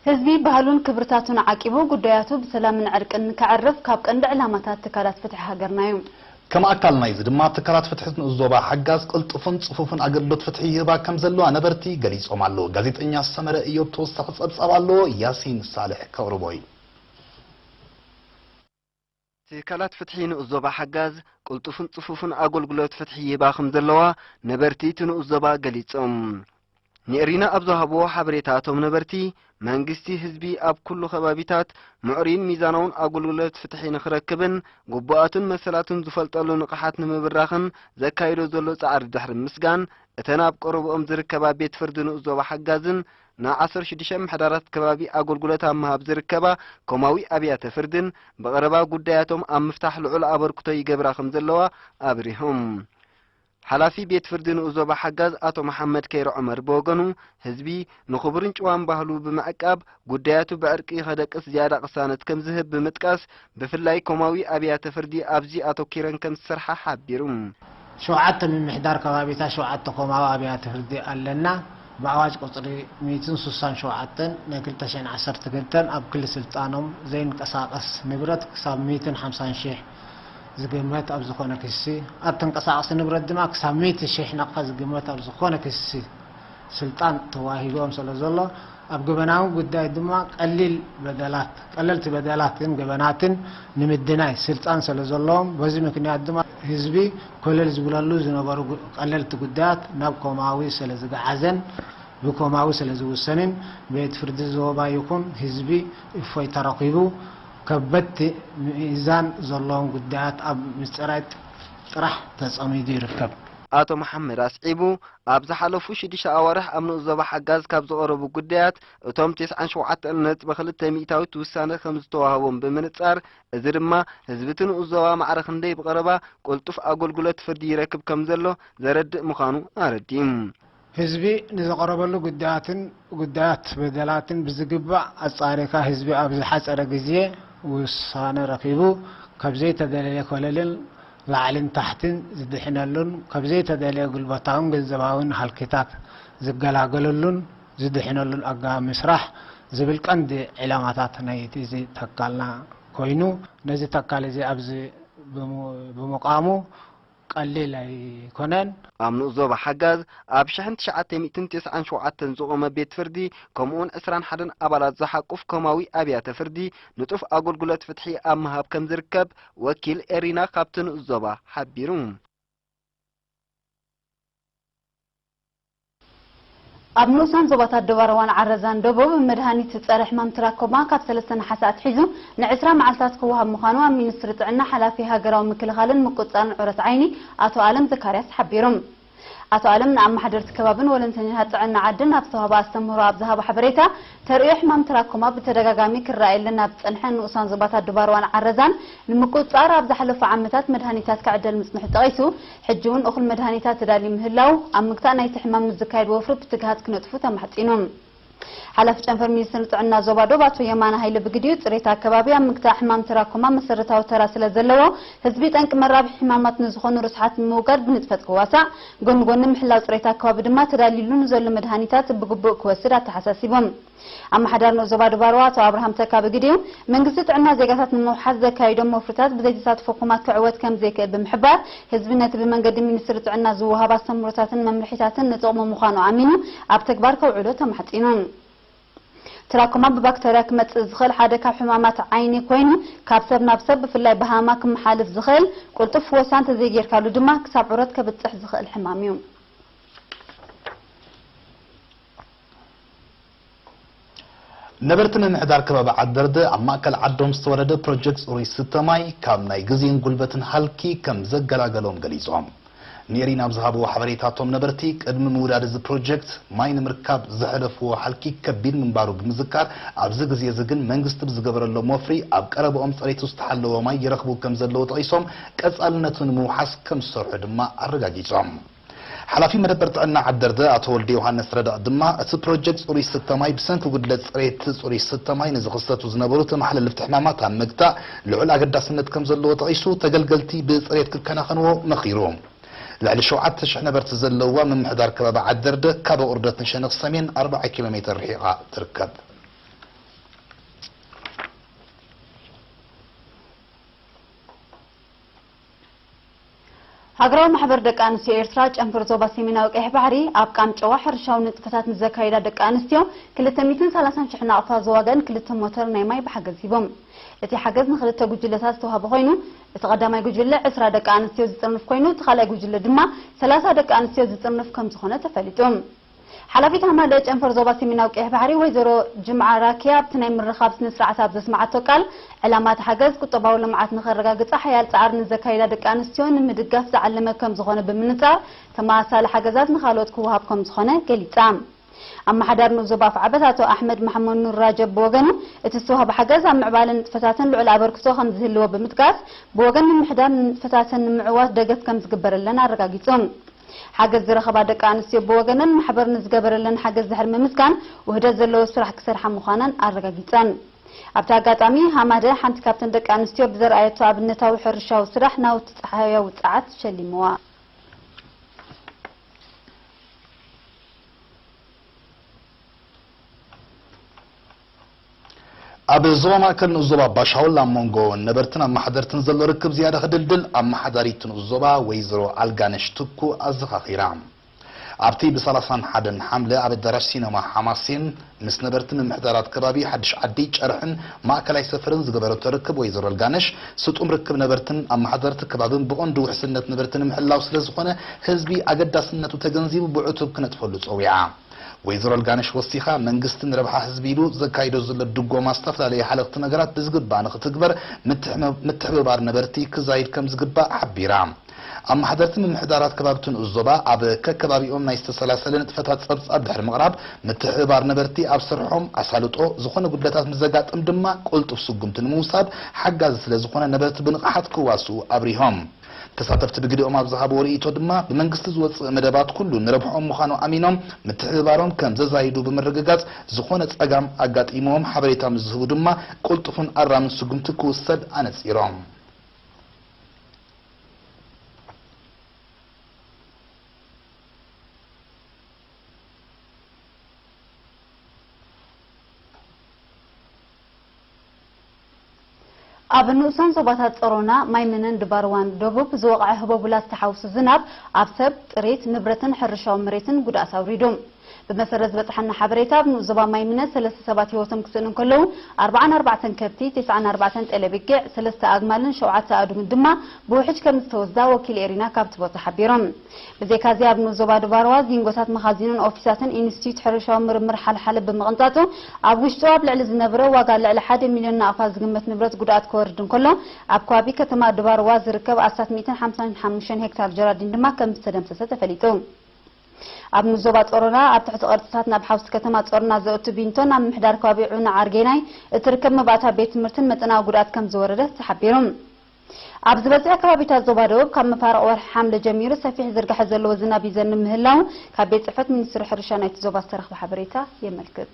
ህዝቢ ባህሉን ክብርታቱን ዓቂቡ ጉዳያቱ ብሰላምን ዕርቅን ንከዕርፍ ካብ ቀንዲ ዕላማታት ትካላት ፍትሒ ሃገርና እዩ። ከም ኣካል ናይዚ ድማ ትካላት ፍትሒ ንኡስ ዞባ ሓጋዝ ቅልጡፍን ጽፉፍን ኣገልግሎት ፍትሒ ይህባ ከም ዘለዋ ነበርቲ ገሊጾም ኣለዉ። ጋዜጠኛ ሰመረ እዮብ ተወሳኺ ጸብጻብ ኣለዎ፣ ያሲን ሳልሕ ከቕርቦ እዩ። ትካላት ፍትሒ ንኡስ ዞባ ሓጋዝ ቅልጡፍን ጽፉፍን ኣገልግሎት ፍትሒ ይህባ ከም ዘለዋ ነበርቲ እቲ ንኡስ ዞባ ገሊጾም። ንኤሪና ኣብ ዝሃብዎ ሓበሬታ እቶም ነበርቲ መንግስቲ ህዝቢ ኣብ ኩሉ ከባቢታት ምዕሩይን ሚዛናውን ኣገልግሎት ፍትሒ ንክረክብን ግቡኣቱን መሰላቱን ዝፈልጠሉ ንቕሓት ንምብራኽን ዘካይዶ ዘሎ ጻዕሪ ድሕሪ ምስጋን እተን ኣብ ቀረብኦም ዝርከባ ቤት ፍርዲ ንኡስ ዞባ ሓጋዝን ን ዓሰርተ ሽዱሽተ ምሕደራት ከባቢ ኣገልግሎት ኣብ ምሃብ ዝርከባ ኮማዊ ኣብያተ ፍርድን ብቐረባ ጉዳያቶም ኣብ ምፍታሕ ልዑል ኣበርክቶ ይገብራ ከምዘለዋ ኣብሪሆም። ሓላፊ ቤት ፍርዲ ንኡስ ዞባ ሓጋዝ ኣቶ መሓመድ ከይረ ዑመር ብወገኑ ህዝቢ ንክቡርን ጭዋን ባህሉ ብምዕቃብ ጉዳያቱ ብዕርቂ ከደቅስ ዝያዳ ቅሳነት ከምዝህብ ብምጥቃስ ብፍላይ ኮማዊ ኣብያተ ፍርዲ ኣብዚ ኣተኲረን ከም ዝሰርሓ ሓቢሩ። ሸውዓተ ምምሕዳር ከባቢታት ሸውዓተ ኮማዊ ኣብያተ ፍርዲ ኣለና፣ ብኣዋጅ ቁጽሪ ሚእትን ስሳን ሸውዓተን ናይ ክልተ ሽሕን ዓሰርተ ክልተን ኣብ ክሊ ስልጣኖም ዘይንቀሳቐስ ንብረት ክሳብ ሚእትን ሓምሳን ሽሕ ዝግመት ኣብ ዝኾነ ክሲ ኣብ ተንቀሳቕሲ ንብረት ድማ ክሳብ ሚእቲ ሽሕ ናቕፋ ዝግመት ኣብ ዝኾነ ክሲ ስልጣን ተዋሂብዎም ሰለዘሎ ኣብ ገበናዊ ጉዳይ ድማ ቀሊል በደላት ቀለልቲ በደላትን ገበናትን ንምድናይ ስልጣን ሰለዘለዎም በዚ ምክንያት ድማ ህዝቢ ኮለል ዝብለሉ ዝነበሩ ቀለልቲ ጉዳያት ናብ ኮማዊ ሰለዝገዓዘን ብኮማዊ ሰለዝውሰንን ቤት ፍርዲ ዞባ ይኹን ህዝቢ እፎይታ ረኺቡ ከበድቲ ሚዛን ዘለዎም ጉዳያት ኣብ ምጽራይ ጥራሕ ተጸሚዱ ይርከብ። ኣቶ መሓመድ ኣስዒቡ ኣብ ዝሓለፉ ሽዱሽተ ኣዋርሕ ኣብ ንኡስ ዞባ ሓጋዝ ካብ ዝቐረቡ ጉዳያት እቶም ቴስዓን ሸውዓተን ነጥቢ ክልተ ሚእታዊት ውሳነ ከምዝተዋህቦም ብምንጻር እዚ ድማ ህዝቢ'ቲ ንኡስ ዞባ ማዕረ ክንደይ ብቐረባ ቅልጡፍ ኣገልግሎት ፍርዲ ይረክብ ከምዘሎ ዘረድእ ምዃኑ ኣረዲኡ። ህዝቢ ንዝቐረበሉ ጉዳያትን ጉዳያት በደላትን ብዝግባእ ኣጻሪካ ህዝቢ ኣብ ዝሓጸረ ግዜ ውሳነ ረኺቡ ካብ ዘይተደለየ ኮለልን ላዕልን ታሕትን ዝድሕነሉን ካብ ዘይተደልየ ጉልበታውን ገንዘባውን ሃልኪታት ዝገላገለሉን ዝድሕነሉን ኣገባብ ምስራሕ ዝብል ቀንዲ ዒላማታት ናይቲ እዚ ተካልና ኮይኑ ነዚ ተካል እዚ ኣብዚ ብምቛሙ ቀሊል ኣይኮነን። ኣብ ንኡስ ዞባ ሓጋዝ ኣብ ሽሕን ትሽዓተ ሚእትን ቴስዓን ሸውዓተን ዝቖመ ቤት ፍርዲ ከምኡውን ዕስራን ሓደን ኣባላት ዝሓቁፍ ኮማዊ ኣብያተ ፍርዲ ንጡፍ ኣጎልጉለት ፍትሒ ኣብ ምሃብ ከም ዝርከብ ወኪል ኤሪና ካብቲ ንኡስ ዞባ ሓቢሩ። ኣብ ንኡሳን ዞባታት ዶባረዋን ዓረዛን ደቡብ፣ መድሃኒት ጸረ ሕማም ትራኮማ ካብ ሰለስተ ነሓሰ ኣትሒዙ ንዕስራ መዓልታት ክወሃብ ምዃኑ ኣብ ሚኒስትሪ ጥዕና ሓላፊ ሃገራዊ ምክልኻልን ምቁጽጻርን ዑረት ዓይኒ ኣቶ ኣለም ዘካርያስ ሓቢሩ። ኣቶ ኣለም ንኣማሓደርቲ ከባብን ወለንተኛታት ጥዕና ዓድን ኣብ ዝተዋህበ ኣስተምህሮ ኣብ ዝሃቦ ሓበሬታ፣ ተርእዮ ሕማም ትራኮማ ብተደጋጋሚ ክረኣየለን ኣብ ዝጸንሐ ንኡሳን ዞባታት ድባርዋን ዓረዛን ንምቁጽጻር ኣብ ዝሓለፉ ዓመታት መድሃኒታት ክዕደል ምጽንሑ ጠቒሱ፣ ሕጂ'ውን እኹል መድሃኒታት ተዳልዩ ምህላዉ ኣብ ምግታእ ናይቲ ሕማም ንዝካየድ ወፍሪ ብትግሃት ክነጥፉ ተማሕጺኑ። ሓላፊ ጨንፈር ሚኒስትሪ ጥዕና ዞባ ዶብ ኣቶ የማነ ሃይለ ብግዲኡ፣ ፅሬት ኣከባቢ ኣብ ምግታእ ሕማም ትራኮማ መሰረታዊ ተራ ስለዘለዎ፣ ህዝቢ ጠንቂ መራብሒ ሕማማት ንዝኾኑ ርስሓት ንምውጋድ ብንጥፈት ክዋሳእ፣ ጎኒ ጎኒ ምሕላው ፅሬት ኣከባቢ ድማ ተዳሊሉ ንዘሎ መድሃኒታት ብግቡእ ክወስድ ኣተሓሳሲቦም። ኣመሓዳሪ ንኡስ ዞባ ዶብ ኣርዋ ኣቶ ኣብርሃም ተካ ብግዲኡ፣ መንግስቲ ጥዕና ዜጋታት ንምውሓስ ዘካይዶም ወፍርታት ብዘይተሳትፎ ኩማ ክዕወት ከምዘይክእል ብምሕባር፣ ህዝቢ ነቲ ብመንገዲ ሚኒስትሪ ጥዕና ዝወሃብ ኣስተምህሮታትን መምርሒታትን ንጥቕሙ ምዃኑ ኣሚኑ ኣብ ተግባር ከውዕሎ ተማሕጺኑ። ትራኮማ ብባክተርያ ክመጽእ ዝኽእል ሓደ ካብ ሕማማት ዓይኒ ኮይኑ ካብ ሰብ ናብ ሰብ ብፍላይ ብሃመማ ክመሓልፍ ዝኽእል ቁልጡፍ ፍወሳ እንተዘይጌርካሉ ድማ ክሳብ ዑረት ከብጽሕ ዝኽእል ሕማም እዩ። ነበርቲ ምምሕዳር ከባቢ ዓድበርደ ኣብ ማእከል ዓዶም ዝተወለደ ፕሮጀክት ጽሩይ ዝስተ ማይ ካብ ናይ ግዜን ጉልበትን ሃልኪ ከም ዘገላገሎም ገሊጾም። ንኤሪና ኣብ ዝሃብዎ ሓበሬታ እቶም ነበርቲ ቅድሚ ምውዳድ እዚ ፕሮጀክት ማይ ንምርካብ ዘሕለፍዎ ሃልኪ ከቢድ ምንባሩ ብምዝካር ኣብዚ ግዜ'ዚ ግን መንግስቲ ብዝገበረሎም ወፍሪ ኣብ ቀረበኦም ጸሬቱ ዝተሓለወ ማይ ይረኽቡ ከም ዘለዉ ጠቒሶም ቀጻልነቱ ንምውሓስ ከም ዝሰርሑ ድማ ኣረጋጊጾም። ሓላፊ መደበር ጥዕና ዓደርደ ኣቶ ወልደዮሃንስ ረዳ ድማ፣ እቲ ፕሮጀክት ፅሩይ ስተ ማይ ብሰንኪ ጉድለት ፅሬት ፅሩይ ስተ ማይ ንዝኽሰቱ ዝነበሩ ተመሓለልፍቲ ሕማማት ኣብ ምግታእ ልዑል ኣገዳስነት ከምዘለዎ ጠቒሱ ተገልገልቲ ብፅሬት ክከናኸንዎ መኺሩ። ልዕሊ ሸውዓተ ሽሕ ነበርቲ ዘለውዋ ምምሕዳር ከባቢ ዓደርደ ካብ ኣቑርደት ንሸነኽ ሰሜን ኣርብዓ ኪሎ ሜተር ርሒቓ ትርከብ። ሃገራዊ ማሕበር ደቂ ኣንስትዮ ኤርትራ ጨንፈር ዞባ ሰሜናዊ ቀይሕ ባሕሪ ኣብ ቃንጨዋ ሕርሻዊ ንጥፈታት ንዘካይዳ ደቂ ኣንስትዮ ክልተ ሚእትን ሰላሳን ሽሕ ናቕፋ ዝዋጋን ክልተ ሞተር ናይ ማይ ብሓገዝ ሂቦም። እቲ ሓገዝ ንክልተ ጉጅለታት ዝተዋህበ ኮይኑ እቲ ቀዳማይ ጉጅለ ዕስራ ደቂ ኣንስትዮ ዝጥርንፍ ኮይኑ እቲ ካልኣይ ጉጅለ ድማ ሰላሳ ደቂ ኣንስትዮ ዝጥርንፍ ከምዝኾነ ተፈሊጡ። ሓላፊት ሃማደኤ ጨንፈር ዞባ ሰሜናዊ ቀይሕ ባሕሪ ወይዘሮ ጅምዓ ራኪያ ኣብቲ ናይ ምርኻብ ስነ ስርዓት ኣብ ዘስመዓቶ ቃል፣ ዕላማ እቲ ሓገዝ ቁጠባዊ ልምዓት ንኸረጋግጻ ሓያል ጻዕሪ ንዘካይዳ ደቂ ኣንስትዮ ንምድጋፍ ዝዓለመ ከምዝኾነ ብምንጻር፣ ተመሳሳሊ ሓገዛት ንኻልኦት ክወሃብ ከምዝኾነ ገሊጻ። ኣመሓዳሪ ኑብ ዞባ ኣፍዓበት ኣቶ ኣሕመድ መሓመኑር ራጀብ ብወገኑ፣ እቲ ዝተዋህበ ሓገዝ ኣብ ምዕባለ ንጥፈታተን ልዑል ኣበርክቶ ከምዝህልዎ ብምጥቃስ፣ ብወገን ምምሕዳር ንንጥፈታተን ንምዕዋት ደገፍ ከምዝግበረለን ኣረጋጊጹ። ሓገዝ ዝረኸባ ደቂ ኣንስትዮ ብወገነን ማሕበር ንዝገበረለን ሓገዝ ድሕሪ ምምስጋን ውህደት ዘለዎ ስራሕ ክሰርሓ ምዃነን ኣረጋጊፀን። ኣብቲ ኣጋጣሚ ሃማደ ሓንቲ ካብተን ደቂ ኣንስትዮ ብዘርኣየቶ ኣብነታዊ ሕርሻዊ ስራሕ ናውቲ ፀሓያዊ ፀዓት ሸሊምዋ። ኣብ ዞባ ማእከል ንኡስ ዞባ ባሻውል ኣብ መንጎ ነበርትን ኣመሓደርትን ዘሎ ርክብ ዝያዳ ክድልድል ኣመሓዳሪት ንኡስ ዞባ ወይዘሮ ኣልጋነሽ ትኩ ኣዘኻኺራ። ኣብቲ ብ ሰላሳን ሓደን ሓምለ ኣብ ኣዳራሽ ሲነማ ሓማሴን ምስ ነበርቲ ምምሕዳራት ከባቢ ሓድሽ ዓዲ፣ ጨርሕን ማእከላይ ሰፈርን ዝገበረቶ ርክብ ወይዘሮ ኣልጋነሽ ስጡም ርክብ ነበርትን ኣመሓደርቲ ከባብን ብቐንዱ ውሕስነት ነበርቲ ንምሕላው ስለዝኾነ ህዝቢ ኣገዳስነቱ ተገንዚቡ ብዕቱብ ክነጥፈሉ ጸዊዓ። ወይዘሮ ልጋነሽ ወሲኻ መንግስቲ ንረብሓ ህዝቢ ኢሉ ዘካይዶ ዘሎ ድጎማ ዝተፈላለየ ሃለኽቲ ነገራት ብዝግባእ ንኽትግበር ምትሕብባር ነበርቲ ክዛይድ ከምዝግባእ ሓቢራ። ኣብ ማሕደርቲ ምምሕዳራት ከባቢቲ ንኡስ ዞባ ኣብ ከከባቢኦም ናይ ዝተሰላሰለ ንጥፈታት ፀብፃብ ድሕሪ ምቕራብ ምትሕብባር ነበርቲ ኣብ ስርሖም ኣሳልጦ ዝኾነ ጉድለታት ምስዘጋጥም ድማ ቅልጡፍ ስጉምቲ ንምውሳድ ሓጋዚ ስለዝኾነ ነበርቲ ብንቕሓት ክዋስኡ ኣብሪሆም። ተሳተፍቲ ብግደኦም ኣብ ዝሃብዎ ርእይቶ ድማ ብመንግስቲ ዝወፅእ መደባት ኩሉ ንረብሕኦም ምዃኑ ኣሚኖም ምትሕብባሮም ከም ዘዛይዱ ብምርግጋፅ ዝኾነ ፀጋም ኣጋጢምዎም ሓበሬታ ምስ ዝህቡ ድማ ቅልጡፍን ኣራምን ስጉምቲ ክውሰድ ኣነፂሮም። ኣብ ንኡሳን ዞባታት ጸሮና፣ ማይምነን ድባርዋን ደቡብ ዝወቕዐ ህቦቡላ ዝተሓውሱ ዝናብ ኣብ ሰብ፣ ጥሪት፣ ንብረትን ሕርሻዊ መሬትን ጉድኣት ኣውሪዱ። ብመሰረት ዝበጽሓና ሓበሬታ ኣብ ንኡስ ዞባ ማይምነ ሰለስተ ሰባት ህይወቶም ክስእኑ እንከለዉ፣ ኣርብዓን ኣርባዕተን ከብቲ፣ ቴስዓን ኣርባዕተን ጤለቢጊዕ፣ ሰለስተ ኣግማልን ሸውዓተ ኣእዱግን ድማ ብውሕጅ ከምዝተወስዳ ወኪል ኤሪና ካብቲ ቦታ ሓቢሩ። ብዘይካ'ዚ ኣብ ንኡስ ዞባ ድባርዋ፣ ዚንጎታት መኻዚንን ኦፊሳትን ኢንስቲትዩት ሕርሻዊ ምርምር ሓልሓለ ብምቕንጣጡ፣ ኣብ ውሽጡ ኣብ ልዕሊ ዝነበረ ዋጋ ልዕሊ ሓደ ሚልዮን ናቕፋ ዝግመት ንብረት ጉድኣት ከወርድ እንከሎ፣ ኣብ ከባቢ ከተማ ድባርዋ ዝርከብ ኣስታት ሚእትን ሓምሳን ሓሙሽተን ሄክታር ጀራዲን ድማ ከምዝተደምሰሰ ተፈሊጡ። ኣብ ንኡስ ዞባ ጾሮና፣ ኣብ ትሕቲ ቅርጽታት ናብ ሓውሲ ከተማ ጾሮና ዘእቱ ቢንቶን ኣብ ምምሕዳር ከባቢ ዑና ዓርጌናይ እትርከብ መባእታ ቤት ትምህርትን መጠናዊ ጉድኣት ከምዝወረደ ተሓቢሩ። ኣብ ዝበዝሐ ከባቢታት ዞባ ደቡብ ካብ መፋርቕ ወርሒ ሓምለ ጀሚሩ ሰፊሕ ዝርግሐ ዘለዎ ዝናብ ይዘንብ ምህላዉ ካብ ቤት ፅሕፈት ሚኒስትሪ ሕርሻ ናይቲ ዞባ ዝተረኽበ ሓበሬታ የመልክት።